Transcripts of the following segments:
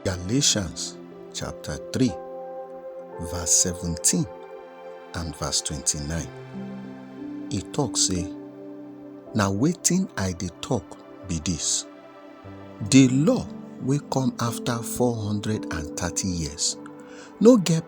Galatians chapter 3, verse 17 and verse 29. E tok sey, Na wetin I dey tok be dis, di law wey come afta 430 years no get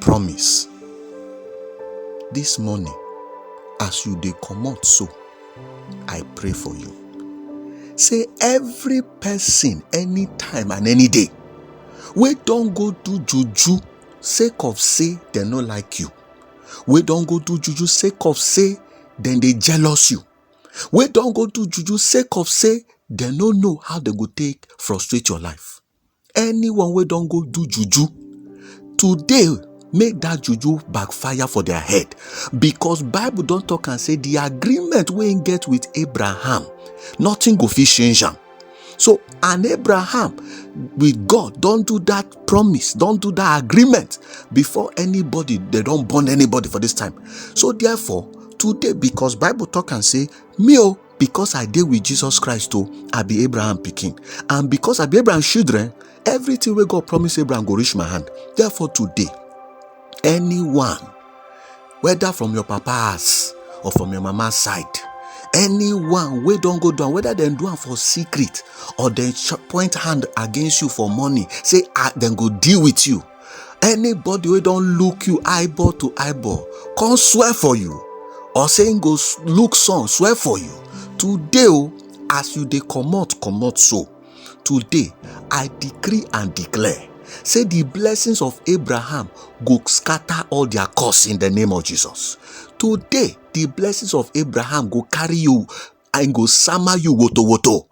Promise. This morning, as you dey comot so, I pray for you. Say every person, anytime and any day, wey don go do juju sake of say dem no like you, wey don go do juju sake of say dem dey jealous you, wey don go do juju sake of say dem no know how dem go take frustrate your life. anyone wey don go do juju today make dat juju back fire for their head because bible don talk am say the agreement wey im get with abraham nothing go fit change am so and abraham with god don do dat promise don do dat agreement before anybody dem don born anybody for dis time so therefore today because bible talk am say me o because i dey with jesus christ o i be abraham pikin and because i be abraham children everything wey god promise abraham go reach my hand therefore today anyone whether from your papa house or from your mama side anyone wey don go down whether dem do am for secret or dem point hand against you for money say ah, dem go deal with you anybody wey don look you eyeball to eyeball come swear for you or say him go look sun swear for you today o as you dey comot comot so today i decree and declare say the blessings of abraham go scatter all their curse in the name of jesus today the blessings of abraham go carry you and go sama you woto woto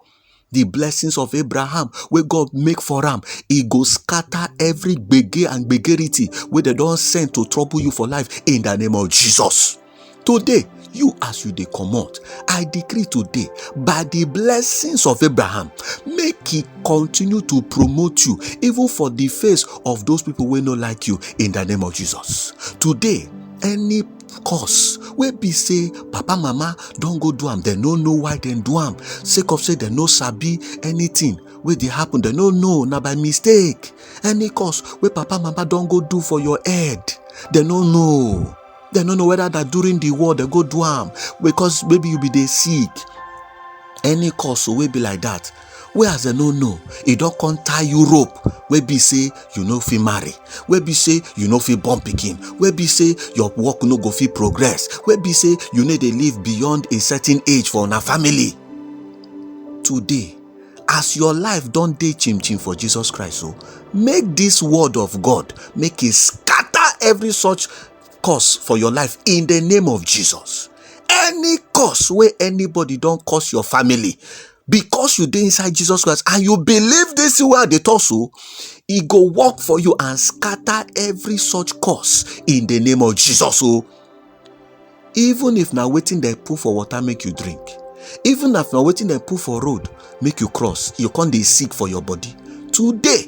the blessings of abraham wey god make for am e go scatter every gbege and gbegerity wey dem don send to trouble you for life in the name of jesus today you as you dey comot i decree today by the blessings of abraham make he continue to promote you even for the face of those people wey no like you in the name of jesus today any cause wey be say papa mama don go do am dem no know why dem do am sake of say dem no sabi anything wey dey happen dem no know na by mistake any cause wey papa mama don go do for your head dem no know dem no know whether na during the war dem go do am because maybe you be dey sick any cause wey be like that wey as dem no know e don come tie you rope wey be say you no fit marry wey be say you no fit born pikin wey be say your work no go fit progress wey be say you no dey live beyond a certain age for una family today as your life don dey chim chim for jesus christ o make this word of god make e scatter every such curse for your life in the name of jesus any curse wey anybody don curse your family because you dey inside Jesus Christ and you believe this thing wey I dey talk so, e go work for you and scatter every such curse in the name of Jesus o. Oh. Even if na wetin dem put for water make you drink, even if na wetin dem put for road make you cross, you come dey sick for your body. Today,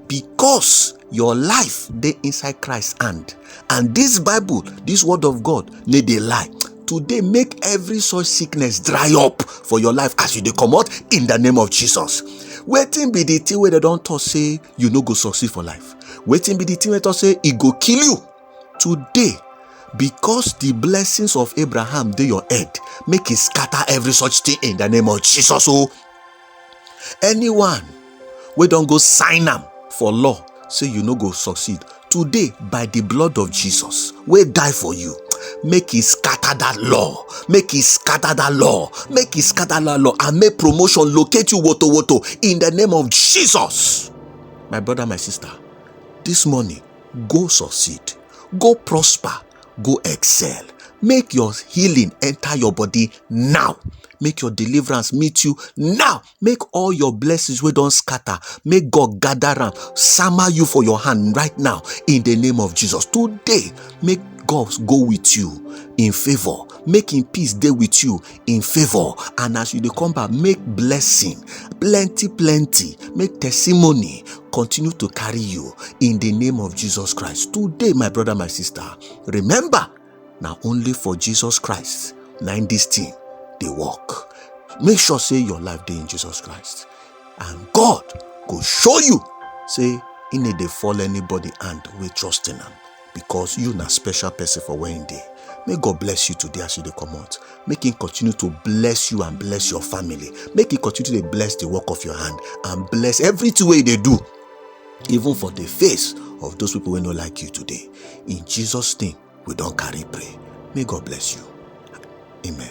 because your life dey inside christ hand and this bible this word of god no dey lie today make every such sickness dry up for your life as you dey comot in the name of jesus wetin be the thing wey dem don talk say you no go succeed for life wetin be the thing wey talk say e go kill you today because the blessings of abraham dey your head make e scatter every such thing in the name of jesus o anyone wey don go sign am for law say you no go succeed today by the blood of jesus wey die for you make e scatter that law make e scatter that law make e scatter that law and make promotion locate you woto woto in the name of jesus my brother my sister this morning go succeed go prosper go excel make your healing enter your body now make your deliverance meet you now make all your blessings wey don scatter make god gather am sama you for your hand right now in the name of jesus today make god go with you in favour make him peace dey with you in favour and as you dey come back make blessing plenty plenty make testimony continue to carry you in the name of jesus christ today my brother my sister remember na only for jesus christ na in this thing dey work make sure say your life dey in jesus christ and god go show you say he no dey fall anybody hand wey trust in am because you na special person for where him dey make god bless you today as you dey comot make him continue to bless you and bless your family make him continue to bless the work of your hand and bless everything wey you dey do even for the face of those people wey no like you today in jesus name we don carry pray may god bless you amen